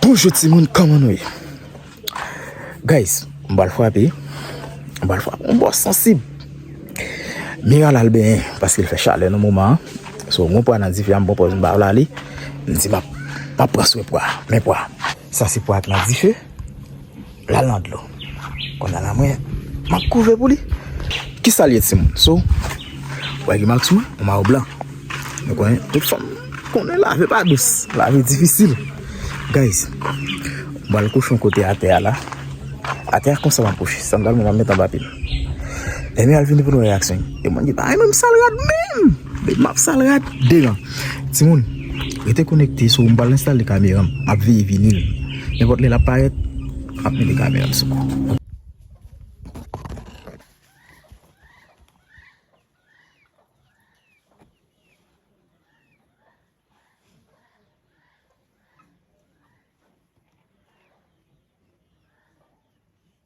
Bonjou ti moun kòman nou ye Guys m pral frape m pral frape yon bò sansib Mira lal benyen paske l fè chalè nan moman an So m gen yon pwa nan dife a m pran pòz m pa vle ale M di m ap pran swen pwa a men pwa a Sa se pwa ki nan dife. Lal nan dlo. Konnya la mwen map kouve pou li. Kisal ye timoun? So Ou wè gen mak sou mwen? Ou mayo blan. Nou konnen tout fanm konnen lave pa dous. Lave difisil. Guys Mwen al kouche yon kote atè a la. Atè a konsa map kouche. Sandal mwen map met anba pye m. Ebyen al vini pou nou wè reyaksyon li. E mwen di bagay menm sal rad menm. Depi map sal rad deran. Timoun rete konekte sou m pral enstale kameram map veye vinil nenpòt lè lap parèt map mete kameram sou li.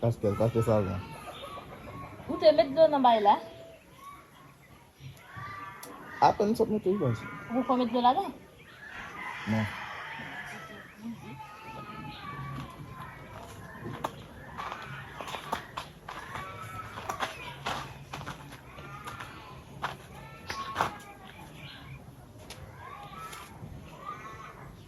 Paskel pa fè sa vre. Ou te met dlo nan bay la? Apen m sot mete l baz. Ou poko met dlo ladan? Non.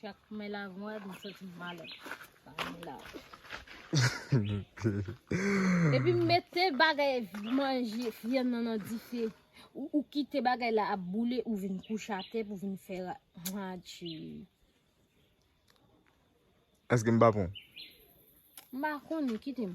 Chak mwen la vwad m santi m malè. Mwen la. Epi m mete bagay manje vyann nan nan dife. Ou kite bagay la ap boule ou vin kouche atè pou vin fè ra. Ha tchi. Eske m pa pon? M pa konnen, kite m.